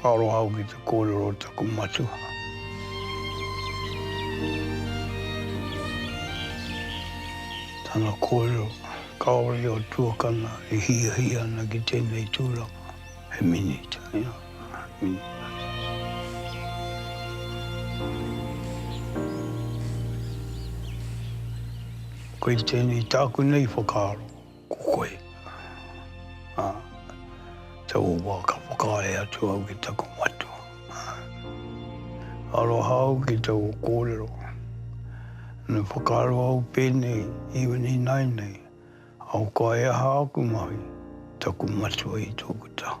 Ka aroha au ki te kōrero o taku matua. Tana kōrero, kāore i a tuakana e hiahia ana ki tēnei tūranga, he minita, ia, minita. Koe tēnei tāku nei whakaaro. Ko koe, ā, te o wā ka whakaae atu au ki taku matua, ā. Aroha au ki te o kōrero. Me whakaaro au pēnei i ua nīnai nei, ahakoa he aha aku mahi, taku matua i tōku taha.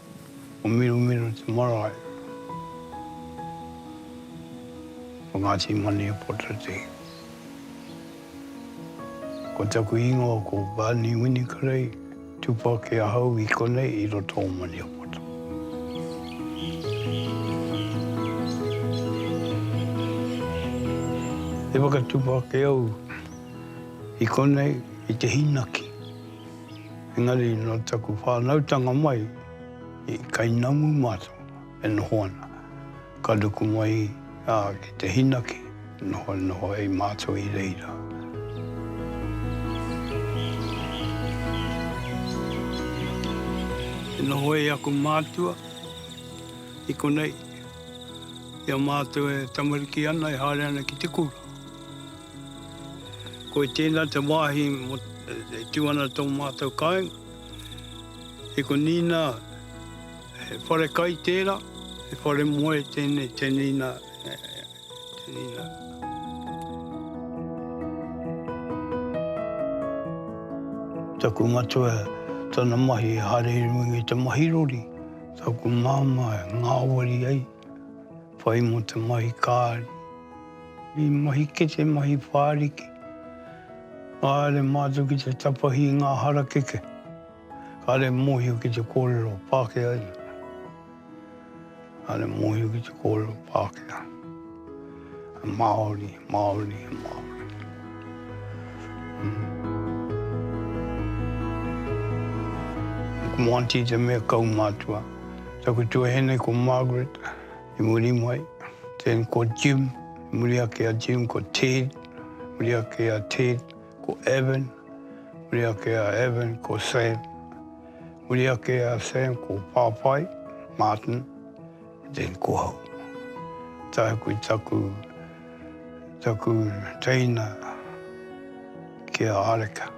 Ko Mirumiru te marae o Ngāti Maniapoto-te. Ko taku ingoa ko Barney Winikrei, tupu ake ahau i konei i roto o Maniapoto. E whakatupu ake au i konei i te hīnaki. Engari nō taku whānautanga mai i Kainamu mātou e noho ana. Ka ruku mai ki te hinaki, nohonoho ai mātou i reira. E noho ai aku mātua i konei i a mātou e tamariki ana, e haere ana ki te kura. Ko i tēnā te wāhi e tū ana tō mātou kāinga, i ko Nīnā, he whare kai tērā, he whare moe tēnei te Nīnā, te Nīnā. Taku matua, tana mahi e haere i runga i te mahi rori. Taku māmā e ngāwari ai. Whai mō te mahi kāri. I mahi kete, mahi whāriki. Kāre mātou ki te tapahi i ngā harakeke. Kāre mōhio ki te kōrero Pākehā. Kāre mōhio ki te kōrero Pākehā. Māori. Māori e Māori. Mō Aunty te mea kaumātua. Taku tuahine ko Margaret, i muri mai. Then ko Jim, i muri ake a Jim, ko Ted, i muri ake a Ted, ko Evan, i muri ake a Evan, ko Sam. I muri ake a Sam, ko Pāpai, Martin. Te Kohau. Tāku i taku, taku teina ki a Areka.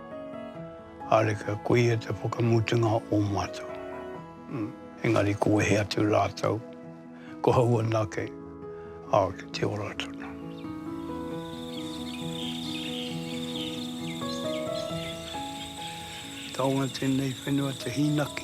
Areka, ko ia te whakamutunga o mātou. Engari ko wehe atu rātou, kohau anake, ā, ki te ora tonu. Taonga tēnei whenua te hīnaki.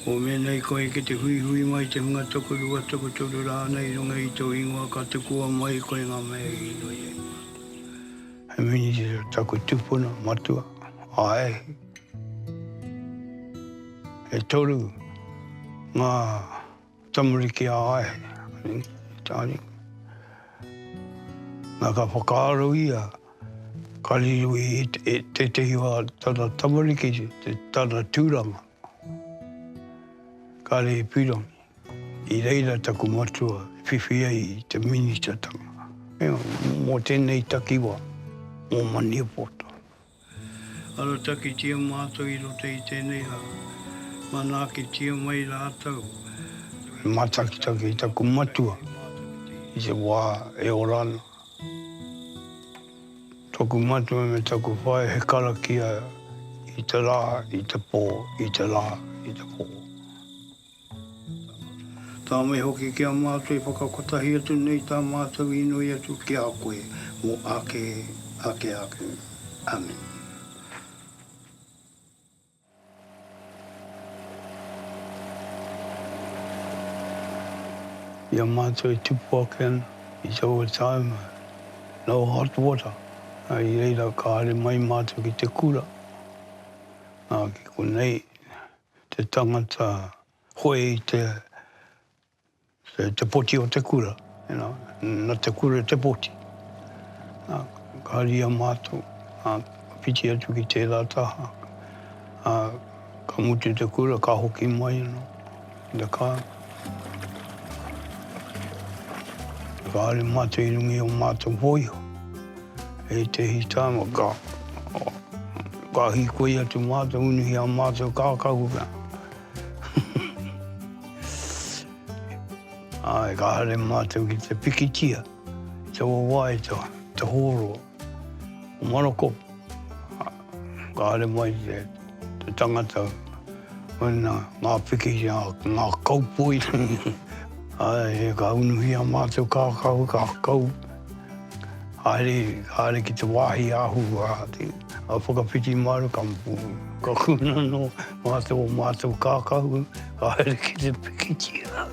Mō mēnei koe ki te huihui mai te hunga tokorua, tokotoru rānei i runga i tō ingoa ka tukua mai koe ngā mea i inoi ai mātou. He Minitera taku tupuna matua, a Ehi. E toru ngā tamariki a Ehi, anei, tāriku. Na ka whakaaro ia ka riro i tētehi o tana tamariki te tana tūranga. Kāre he pirangi. I reira taku matua e whiwhi ai i te minitatanga. Mō tēnei takiwā, mō Maniapoto. Aratakitia mātou i roto i tēnei rā. Manaakitia mai rātou. He mātakitaki taku matua i te wā e ora ana. Taku matua me taku whaea he karakia i te rā, i te pō, i te rā, i te pō. Tāmata. Tāmai hoki ki a mātou e whakakotahi atu nei tā mātou inoi atu ki a koe mō ake, ake ake. Amen. I a mātou e tupu ake ana i taua tāima, no hot water, ā, i reira ka haere mai mātou ki te kura, ā, ki konei te tangata hoe i te Te poti o te kura, na te kura te poti. Ka haria matou, ka whiti atu ki tera taha, ka mutu te kura ka hoki mai ano ki te kar. Ka haere matou i runga i o matou hoiho, i tehi tama ka ka hikoi atu matou unuhi a matou kakahu. Āe, ka haere mātou ki te pikitia, te wāwae, te hōro. Ko Maroko, ka haere mai te tangata, mena ngā piki, ngā kaupoi. Āe, ka unuhia mātou kākau, kākau. Haere, haere ki te wāhi āhua, whakawhiti māru, ka kūnano. Mā tō mātou kākahu ka haere ki te pikitia.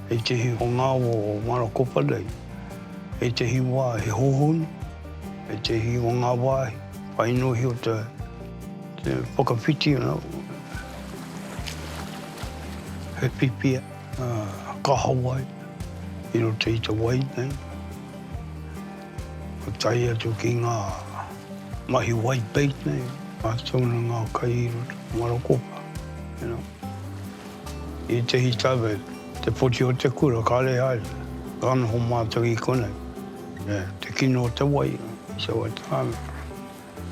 Hei te hihonga o Marakopa nei, hei te hiwa he hohonu, hei te hi o ngā wāhi, whai nohi o te whakawhiti ana, he pipia kahawai i roto i te wai nei. Ka tae atu ki ngā mahi white bait nei, ngā tauna, ngā kai iro, marakopa, you know. I ētehi tau, te poti o te kura, kāre haere, ka noho mātou i konei. Te kino o te wai, so at times.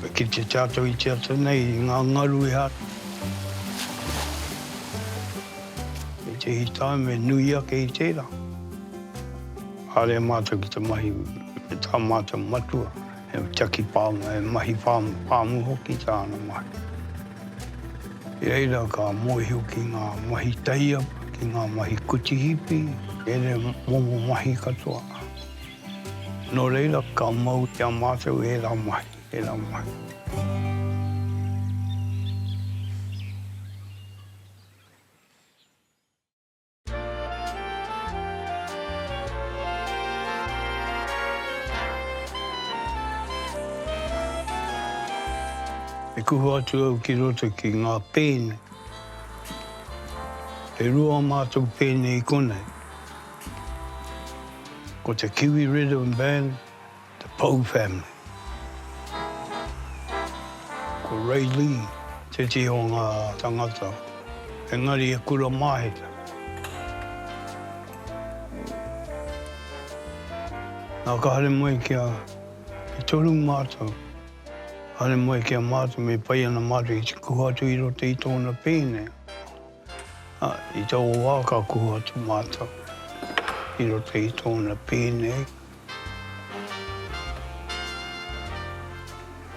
E kite tātou i te ata nei, i ngā ngaru e hara. I tēhi taim e nui ake i tērā. Haere mātou ki te mahi me tā mātou matua, he tiaki pāmu, he mahi pāmu, pāmu hoki tāna mahi. I reira ka mōhio ki ngā mahi taiapa, ki ngā mahi kuti hipi, ēnei momo mahi katoa. Nō reira, ka mau ki a mātou e rā mai, e rā mai. E kuhu atu au ki roto ki ngā pēne. E rua mātou pēne i konei. Ko te Kiwi Rhythm Band, te Pou Family. Ko Ray Lee tētehi o ngā tangata, engari e kura māheta. Nā ka haere mai kia, e toru mātou, haere mai kia mātou me pai ana mātou i tiku atu i roto i tōna pēne. Ā, i taua wā ka kuhu atu mātou i roto i tōna pī nei,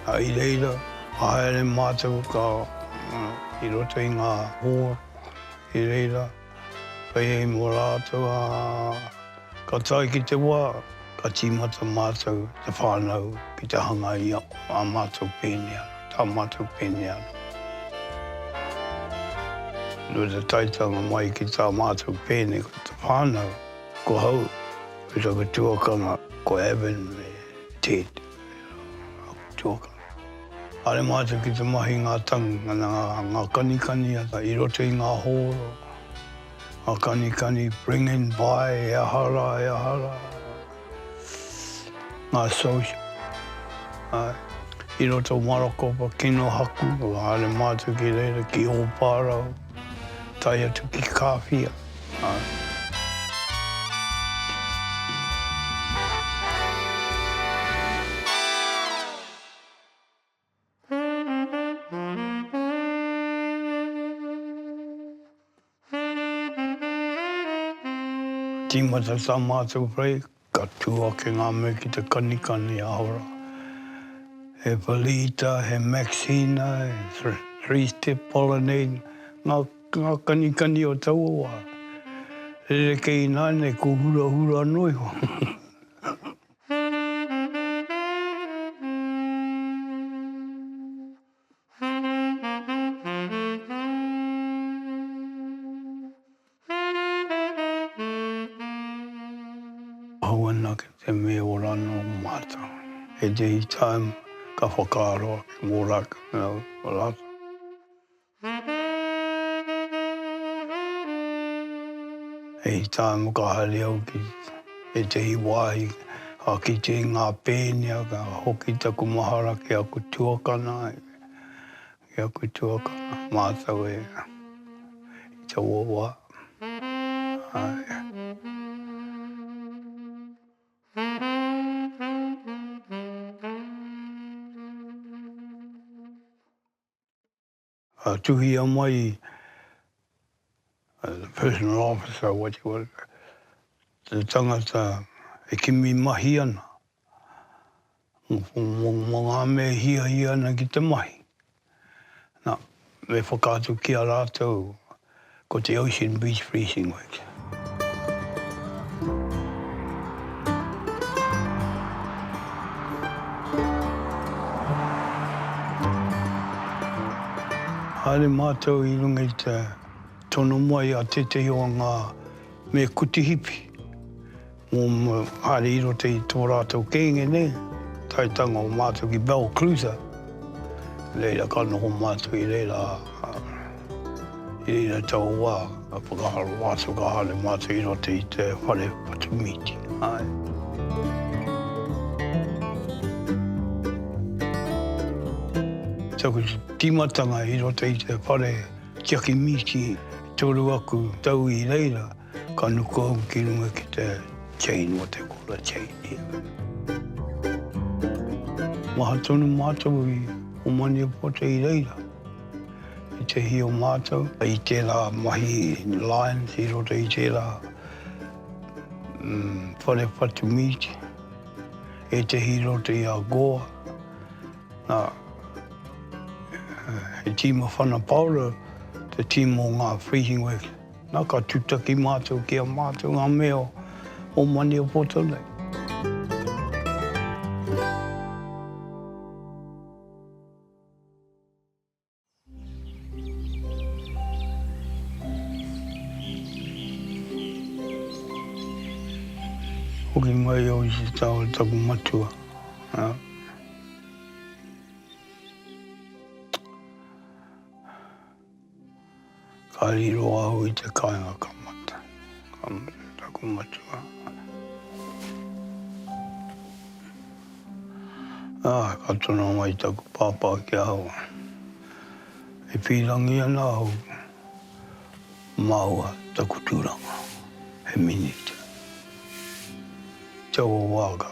ā, i reira ka haere mātou ka, i roto i ngā hoa, i reira, whai hei mō rātou ā. Ka tae ki te wā, ka tīmata mātou, te whānau, ki te hanga i ā mātou pēne anō, tā mātou pēne anō. Nō te taetanga mai ki tā mātou pēne ko te whānau, ko hau, me taku tuakana, ko Evan me Ted, aku tuakana. Haere mātou ki te mahi ngā tangi, ngana ngā kanikani i roto i ngā hōro, A kanikani bringing by e aha rā, e aha rā, ngā social, āe, i roto o Marakopa, Kinohaku, haere mātou ki reira ki Ōpārau, tae atu ki Kāwhia, āe. Tīmata tā mātou whai, ka tū ake ngā mea ki te kanikani aho rā. He Feliita, he Maxina, he Three Step Pollinate, ngā, ngā kanikani o taua wā. Rerekē ināianei ko hurahura noa iho. Hou ana ki te me ora no matou. He dei taim ka whakaaro ake mo latou. He taim ka haere au ki ētehi wāhi ka kite i ngā pēnea ka hoki taku mahara ki aku tuakana, ki aku tuakana mātou e i taua wā. a tuhia mai a personal officer what you call it, te tangata e kimi mahi ana, mo nga me e hiahia ana ki te mahi, na me whakaatu ki a ratou Ko te Ocean Beach Fleecing Works. Haere mātou i runga i te tono mai a tētehi o ngā me kutihipi. Mō Māori i roto i tō rātou kēnge nei, taetanga o mātou ki Balclutha, reira ka noho mātou i reira, ā, i reira taua wā ka whakaaro mātou, ka haere mātou i roto i te whare whatumīti, āe. Taku tīmatanga i roto i te whare tiaki mīti, toru aku tau i reira. Ka nuku au ki runga ki te chain o te kora chain. Maha tonu mātou i o Maniapoto i reira, i te hi o mātou, i tērā mahi Lions i roto i tērā whare whatu meet, ētehi i roto i a Gore, nā, he tīma whana paora te tīma o ngā Freezing Works. Na ka tutaki matou ki a matou nga mea o Maniapoto nei. Hoki mai au i te tao o taku matua. Ka riro au i te kainga ka mata. Ka mate taku matua. Ā, ka tono mai taku pāpā ki ahau, E pīrangi ana au māua taku tūranga he minita. Taua wā ka,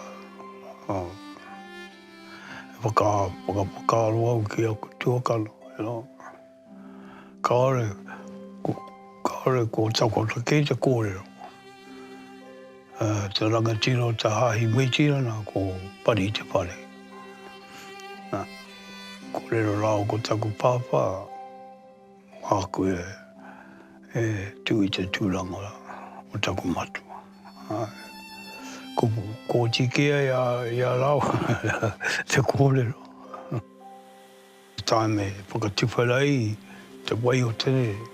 E whakawhakaaro au ki aku tuakana, kāore, kāore kua takoto kē te kōrero. Te rangatira o te Hāhi Mitirana ko Pari Te Whare. Kōrero rāua ko taku pāpā. Māku e, e tū i te tūranga o taku matua. Āe. Ko, ko oti kē ai a, i a rāua te kōrero. Tāme whakatiwhera ai te wai o te rere,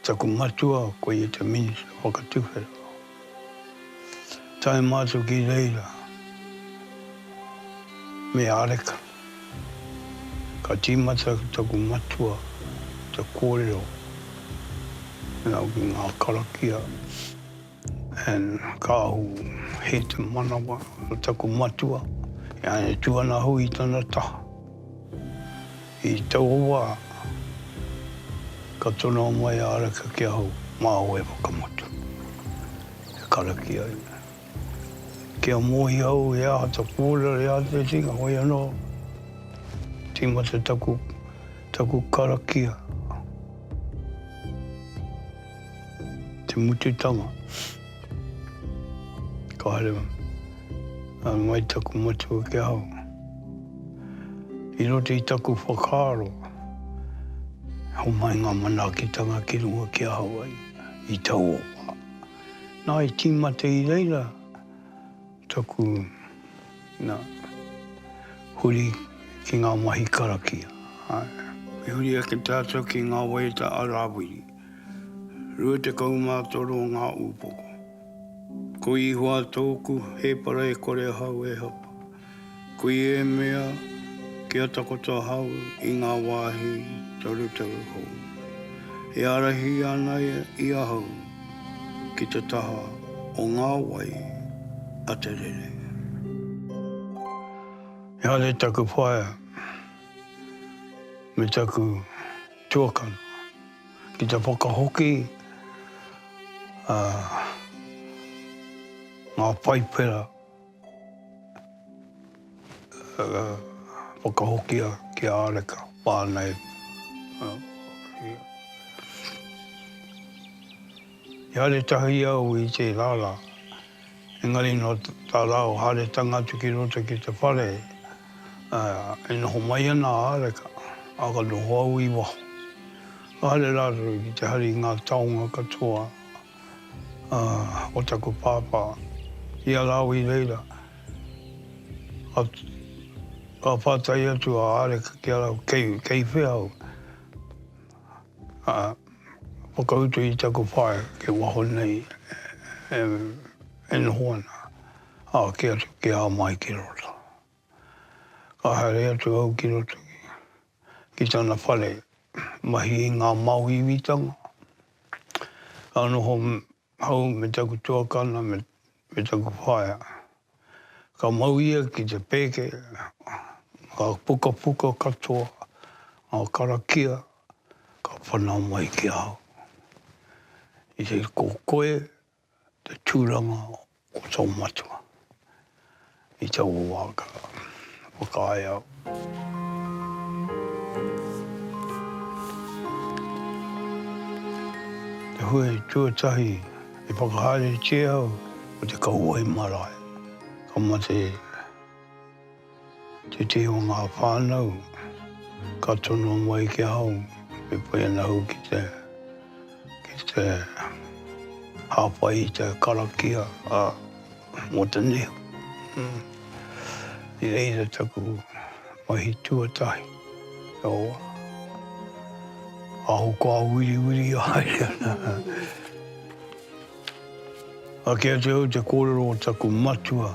taku matua, koia te minita whakatiwhera. tae ma atu ki reira me areka ka timata taku matua te korero me au ki nga karakia and ka ahu he te manawa o taku matua e angitu ana hui tana taha. I taua wā, ka tonoa mai a Araka ki ahau, māu e whakamotu, e karakia ai. Kia mōhio au he aha taku kōrero i āta whiwhinga, hoi anō, tīmata taku, taku karakia. Te mututanga. Ka haere a ngai taku matua ki a au. I roto i taku whakaaro, homai ngā manaakitanga ki runga ki a au ai, i tauoha. Nā, i tīmata i reira. Taku, na, huri ki nga mahi karakia, ae. I huri ake tatou ki nga waiata a Rawiri. Rua tekau ma toru nga upoko. Ko Ihoa toku hepara e kore ahau e hapa. Kui e mea, kia takoto ahau i ngā wāhi torutoru hou. E ārahi ana i ahau ki te taha o ngā wai a te rere. Engari taku whaea me taku tuakana ki te whakahoki ngā paipera. whakahokia ki a Areka whānau. I haere tahi au i tērā rā, engari nō tā rāua haeretanga atu ki roto ki te whare, e noho mai ana a Areka, ā, ka noho au i waho. Ka haere rātou ki te hari i ngā taonga katoa. o taku pāpā, i a Lāwi reira, ka pātai atu a Areka ki a rāua, kei, kei whea au? Whakautu i taku whaea kei waho nei e noho ana, a, kī atu, kei a Mai ki roto. Ka haere atu au ki roto ki tana whare, mahi i ngā māuiuitanga, ka noho hou me taku tuakana me taku whaea. Ka mau ia ki te pēke ngā pukapuka katoa, ngā karakia ka whanau mai ki ahau. I te kokoe. te tūranga o tō matua i te wā ka whakaae au. Te hui tuatahi i whakahaeretia au ko te kauae marae, ka mate. Te tī o ngā whānau, ka tono mai ki ahau, me pai ana ahau ki te, ki te hāpai i te karakia a Motunui. I reira taku mahi tuatahi, owa. Aho kua wiriwiri haere ana. Ake atu au te kōrero o taku matua,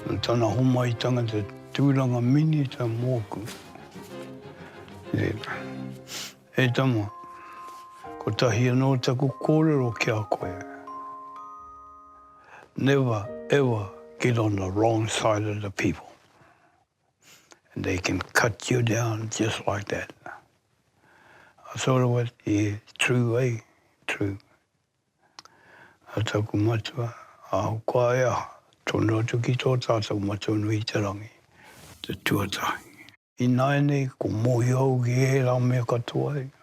nō tana homaitanga te tūranga minita mōku. Tērā. E tama, kotahi anō taku kōrero ki a koe. Never ever get on the wrong side of the people. they can cut you down just like that. I thought it was, yeah, true, eh, true. A taku matua, aho koa e aha, tono atu ki tō tātou matua nui i te rangi, te tuatahi. Ināianei, ko mōhio au ki ērā mea katoa,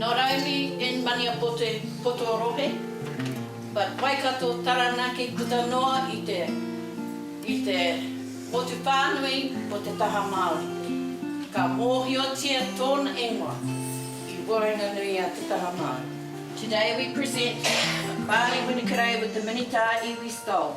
Nō Raumi in Maniapoto poto rohe but Waikato Taranaki puta noa i te i te motu pānui o te taha Māori. Ka mōhiotia tōna ingoa i waenganui a te taha Māori. Today we present Barney Winnikerei with the Minita iwi stole.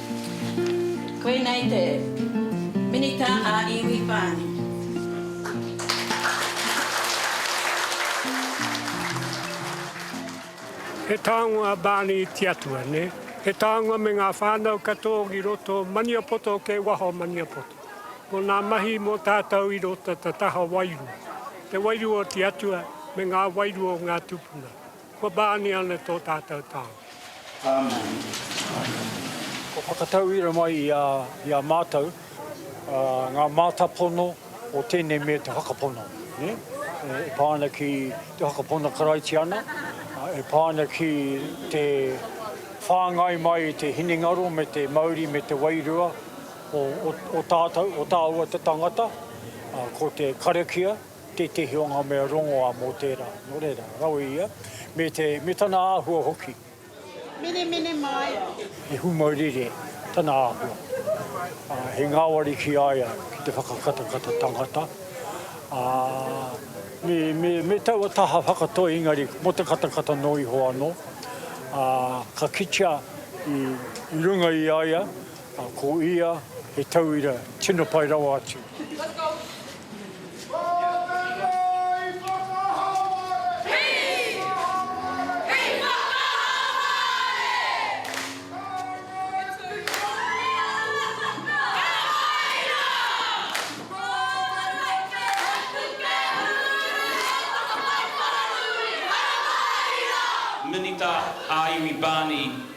Koinei te Minita a Iwi Pani. He tāngo a Barney i te Atua, nē? He tāngo me ngā whānau katoa ki roto o Maniapoto kei waho o Maniapoto. Ko ngā mahi mō tātou i roto te taha wairua, te wairua o te Atua me ngā wairua o ngā tūpuna. Kua Barney ana tō tātou tao. Āmeni. Kua whakatauira mai i a mātou ngā mātāpono o tēnei mea te whakapono, e pā ana ki te whakapono Karaitiana, e pā ana ki te whāngai mai i te hinengaro me te mauri me te wairua o tātou, o tāua te tangata, ko te karakia. tētehi o ngā mea rongoā mō tērā, nō reira, rawe ia, me te, me tana āhua hoki. Menemene mai. I humaurere tana āhua, ā, he ngāwari ki a ia ki te whakakatakata tangata, ā, me, me, me taua taha whakatoi engari mō te katakata noa iho anō, ā, ka kitea i, i runga i a ia, A ko ia he tauira tino pai rawa atu. Minita ā-Iwi Barney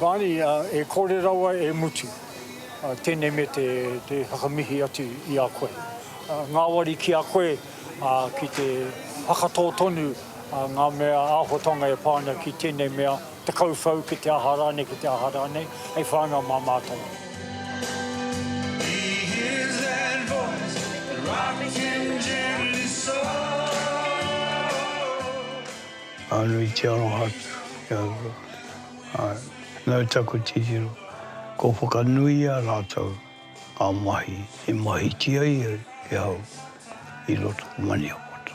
Barney, e kore rawa e mutu. Tēnei me te whakamihi atu i a koe. Ngāwari ki a koe ki te whakatō tonu ngā mea āhuatanga e pā ana ki tēnei mea Te kauwhau ki te aha rānei, ki te aha rānei, hei whānau mā mātou. Nui te aroha atu ki a rua. Nau taku titiro, kua whakanuia rātou ngā mahi i mahitia ia e au i roto o Maniapoto.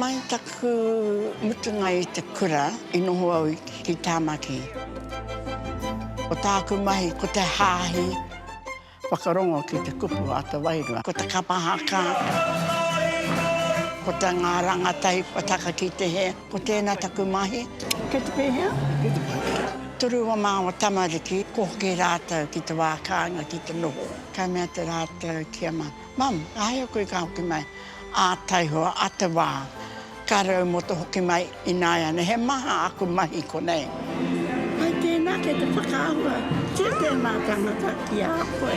Mai taku mutunga i te kura i noho au ki Tāmaki. Ko tāku mahi ko te hāhi. Whakarongo ki te kupu a te wairua. Ko te kapa haka. Ko te ngā rangatahi kua taka ki te hē. Ko tēnā taku mahi. Kei te pēhea? Kei te pai. Turu o māua tamariki, ko hoki rātou ki te wā kāinga ki te noho. Ka mea te rātou kia. Mum, ahea koe ka hoki mai, a taihoa, a te wa, ka rau mo to hoki mai inaeane he maha aku mahi konei. Hai tena kei te whakaahua kia tena tangata ki a koe.